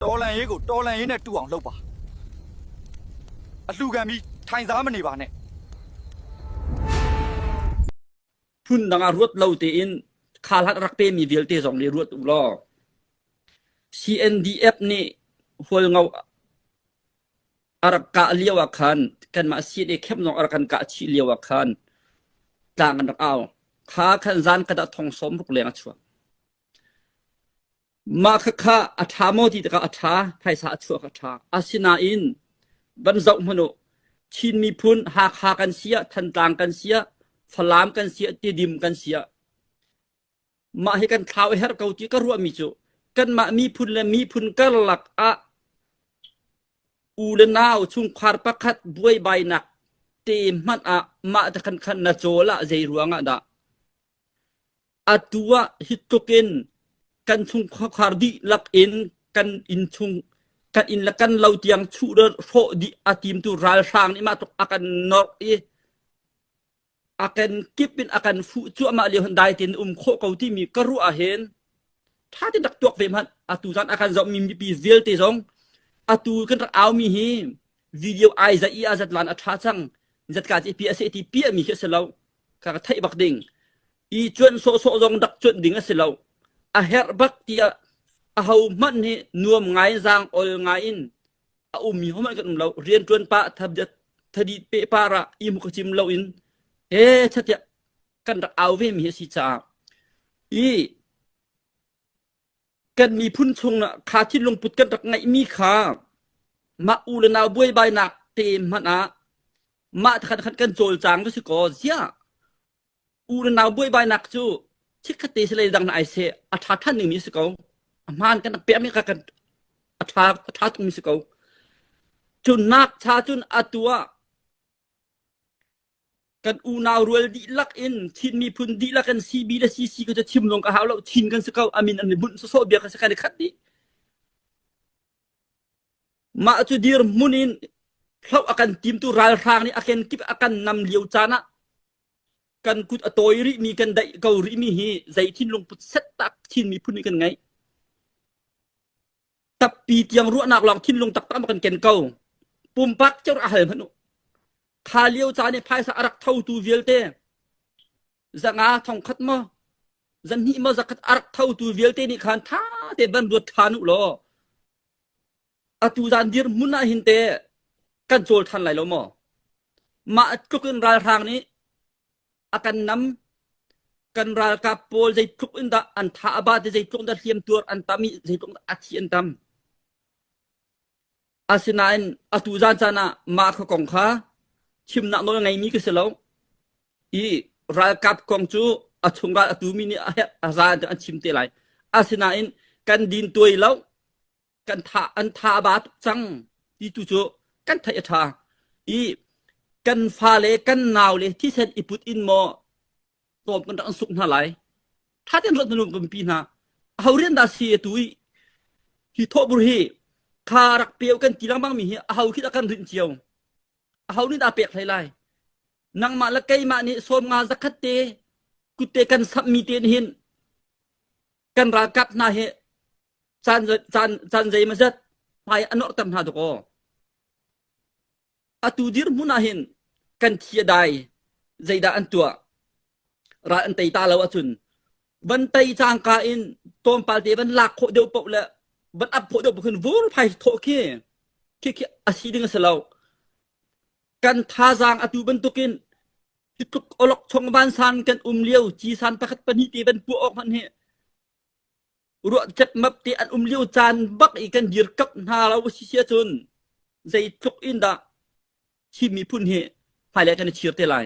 Tawlei ku tawlei ne tuang lo pa. Atlu ga mi thai za mani ba ne. Phun dang a ruat lo tein khalat rak pe mi vialte zong nih ruat u law CNDF nih hual ngau a rak kah lio ah khan kanmah CNA khemnong a rak kan kah chih lio ah khan tlang an rak au kha khan zan kada thong som ruk leng a chuak Mah khakha a ṭha maw ti tikah a ṭha, phaisa a chuak a ṭha. Asinain van zoh hmanh u, Chin miphun Hakha kan si ah, Thantlang kan si ah, Falam kan si ah, Tedim kan si ah, mah hi kan thlau a herh ko ti ka ruahmi cu kanmah miphun le miphun karlak ah u le nau chungkhar pakhat buaibainak te hmanh ah mah te khan khan na cawl ah zei ruang ah dah Atu ah hi tluk in kan chung khuakhar dihlak in kan inn chung kan inn le kan lo tiang chuh le hrawh dih a timtu ralhrang nih mah tluk a kan nawrh i a kan kip in a kan fuh cuahmah lio hin dai tein um khawh ko timi ka ruah ahhin ṭha tein rak tuak ve hmanh atu caan a kan zohmi mipi vialte zong atu kan rak aumi hi video ai zat i azat lan a tha cang zatka ci pi ase ti pi mi khi se lo ka ka thei bak ding i chuan so so zong dak chuan ding a si lo a her bak ti a ho man hi nuam ngai zang ol ngai in a um mi homan kan um lo rian tuan pa thabjat thadi pe para i mu ka chim lo in e chatia kan rak au ve mi si cha i kan miphun chungah kha thinlungput kan rak ngeihmi kha mah u le nau buaibainak te hmanh ah mah thakhat khat kan cawlcang cu si kaw ziah u le nau buaibainak cu chikkhatte si lei dang na ai se a ṭha ṭhan dingmi si ko a hmaan kan pekmi kha kan a ṭha a ṭha tukmi si ko cu nak cha cun atu ah Kan unau rual dihlak in Chin miphun dihlak kan si bi le si si ka cu chim lawng ka hau lo. Chin kan si ko. Amin an i bunh sawsawh bia ka si kan i khat dih. Mah cu dirhmun in hloh a kan tim tu ralhrang nih a kenkip a kan nam lio caan ah kan kut a tawi rih mi kan daih ko rih mi hi zei thinlung put set tak Chin miphun nih kan ngeih. tappi tiang ruahnak lawng thinlung taktak kan ken ko pumpak cheu a hal hman u kha lio ca nih phaisa a rak thotu vialte zanga thongkhat mo zan hnih mo zakhat a rak thotu vialte nih khan tha te ban ruat than u law atu zan dir mun ah hin te kan cawl than lai lo maw mah tluk in ralhrang nih a kan nam kan ralkap pawl zeitluk in dah an tha a ba te zeitluk dah hliamtuar an tam i zeitluk a thi an tam asinain atu zan caan ah mah kha kong kha chimnak nawl ngeimi ka si lo i ralkap kong cu a chung ral atu mi nih a zan an chim te lai asinain kan din tuai lo kan tha an tha a ba tuk cang ti tu cu kan theih a tha i kan fa le kan nau le thi sen i put in maw tawm kan rak suk hna lai tha ten ruat nu kan pi hna ho rian da si tu i hi thobur hi kha rak peo kan ti lang bang mi hi a ho khi da kan rin chiao a ho ni da pek hlai lai nangmah la keimah nih sawm nga zakhat te kutte kan sam mi te hin kan ralkap hna hi caan caan caan zeimazat hmai a norhter hna dakaw atu dirhmun ahhin kan thi a dai zeidah an tuah ral an tei ta lo ahcun van tei cangka in tawmpal te van lak khawh deuh poh le van ap khawh deuh poh khin vur phai thawh khi khi khi a si ding a si lo kan thazaang atu bantukin Hi tluk awlokchong vansang kan um lio cisan pakhat pahnih te van puah awk hmanh hi ruah cepmap te an um lio caan bak i kan dirkap hna lo si sia cun zei tluk in dah Chin miphun hi hmailai kan i chir te lai.